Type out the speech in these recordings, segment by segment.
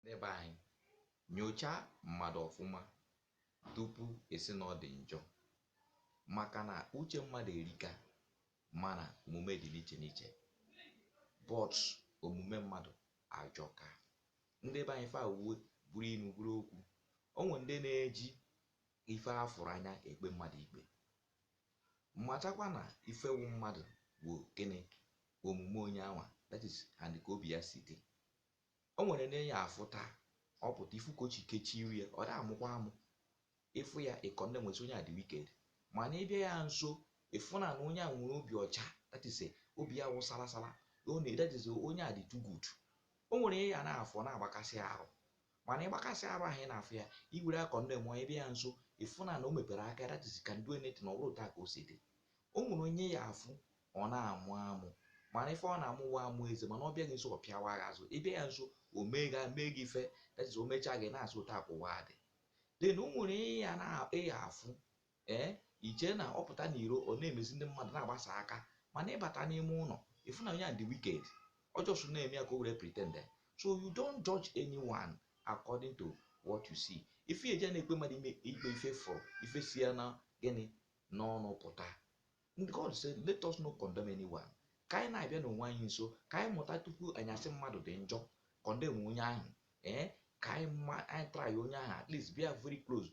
Ndị be anyị, nyochaa mmadụ ọfụma tupu ị sị na ọ dị njọ maka na uche mmadụ erika mana omume dị n'iche n'iche but omume mmadụ ajọka. Ndị be anyị ife a wee bụrụ inu bụrụ okwu. O nwe ndị na-eji ife a fụrụ anya ekpe mmadụ ikpe. Matakwa na ife wụ mmadụ wụ gịnị? Omume onye anwa that is and ka obi ya si dị. o nwere onye ị ya-afụ taa ọ pụta ị fụ ka o si kechie iru ya ọ da amụkwa amụ ị fụ ya ị condemnụọ sị onye a dị wicked mana ị bịa ya nso ị fụ na na onye a nwere obi ọcha that is eh, obi ya wụ sala sala ọ na that is eh, onye a dị too good o nwere onye ị na-afụ ọ na-agbakasị arụ mana ịgbakasị arụ ahụ ị na-afụ ya i were ya condemnụọ ị bịa ya nso ị fụ na na o mepere aka that is can do anything ọ bụ etu a ka o si dị o nwere onye ị ya-afụ ọ na-amụ amụ mana ife ọ na-amụ wụ amụ eze mana ọ bịa gị nso ọ pịawa gị azụ ị bịa ya nso o mee gị mee gị ife that is o mechaa gị ị na-asị otu a ka ụwa dị then o nwere onye ị ya-afụ ee i chee na ọ pụta n'iro ọ na-emezi ndị mmadụ na-agbasa aka mana ị bata n'ime ụlọ ị fụ na onye a dị wicked ọ just na-eme ya ka o were pretend so you don't judge anyone according to what you see ife e ji na-ekpe mmadụ ime ikpe ife ị fụrụ ife si ya na gịnị n'ọnụ pụta And God said, Let us not condemn anyone. Ka anyị na-abịanụ onwe anyị nso ka anyị mụta tupu anyị asị mmadụ dị njọ condemn onye ahụ ee eh? ka anyị ma anyị try onye ahụ at least bịa very close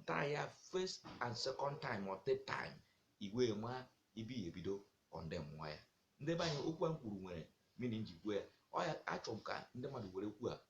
try ya first and second time or third time i wee ma ị bịa ebido condemnwa ya ndị be anyị okwu a m kwuru nwere meaning ji kwuo ya ọ ya achọrọ m ka ndị mmadụ were kwuo a